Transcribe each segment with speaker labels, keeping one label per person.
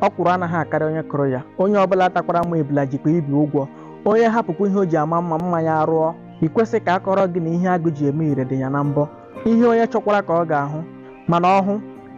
Speaker 1: ọkwụrụ anaghị akarị onye kụrụ ya onye ọbụla takwara amụ ebula jikwa ibi ụgwọ onye hapụkwa ihe o ji ama mma mma ya arụọ i kwesị ka a kọrọ gị na ihe agụ ji eme ire dị ya na mbọ ihe onye chọkwara ka ọ ga-ahụ mana ọ hụ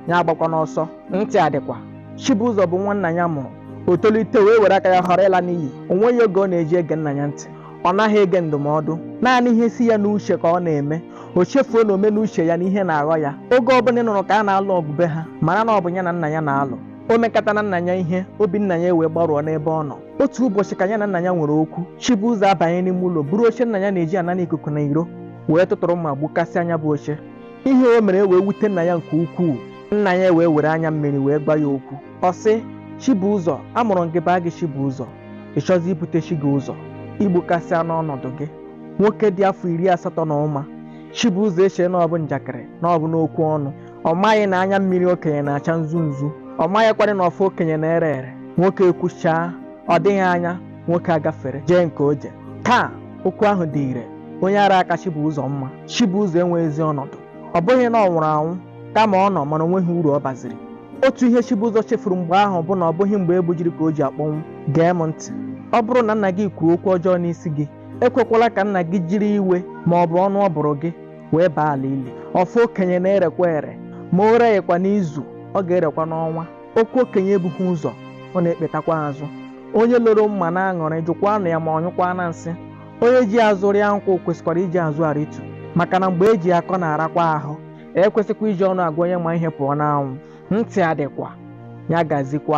Speaker 1: ya agbakwana ọsọ ntị adịkwa Chibụzọ bụ nwa nna ya mụrụ o tolite wee were aka ya họrọ ịla n'iyi o nweghị oge ọ na-eji ege nna ya ntị ọ naghị ege ndụmọdụ naanị ihe si ya n'uche ka ọ na-eme o chefuo na ome n'uche ya na ihe na-aghọ ya oge ọbụla ị nụrụ ka a na-alụ ọgụ be ha mara na ọ bụ ya na nna ya na-alụ o mekatana nna ya ihe obi nna ya wee gbarụọ n'ebe ọ nọ otu ụbọchị ka ya na nna ya nwere okwu Chibuụzọ abanye n'ime ụlọ buru oche nna ya na-eji anara ikuku na iro wee tụtụrụ mma gbukasịa nya bụ oche ihe o mere wee wute nna ya nke ukwuu nna ya wee were anya mmiri wee gwa ya okwu ọ sị Chibuụzọ amụrụ m gị baa gị Chibuụzọ ị chọzi ibute chi gị ụzọ i gbukasịana ọnọdụ gị nwoke dị afọ iri asatọ na ụma Chibuụzọ echee na ọ bụ njakịrị na ọ bụ n'okwu ọnụ ọ maghị na anya mmiri okenye na-acha nzu nzu ọ maghịkwarị na ọfọ okenye na-ere ere nwoke ekwuchaa ọ dịghị anya nwoke agafere jee nke o je taa okwu ahụ dị ire onye ara ka Chibuụzọ mma Chibuụzọ enweghịzi ọnọdụ ọ bụghị na ọ nwụrụ anwụ kama ọ nọ mana o nweghị uru ọ baziri otu ihe Chibụzọ chefuru mgbe ahụ bụ na ọ bụghị mgbe e gbujiri ka o ji akpọnwụ gee m ntị ọ bụrụ na nna gị kwuo okwu ọjọọ n'isi gị ekwekwala ka nna gị jiri iwe ma ọ bụ ọnụ ọ bụrụ gị wee baa ala ili ọfọ okenye na-erekwa ere ma o reghịkwa n'izu ọ ga-erekwa n'ọnwa okwu okenye ebughị ụzọ ọ na-ekpetakwa azụ onye loro mma na-aṅụrị jụkwanụ ya ma ọ nyụkwaana nsị onye ji azụ rịa nkwụ kwesịkwara iji azụ arịtu maka na mgbe e ji akọ na-arakwa ahụ e kwesịkwa iji ọnụ agwa onye ma ihe pụọ n'anwụ ntị adịkwa ya gazikwa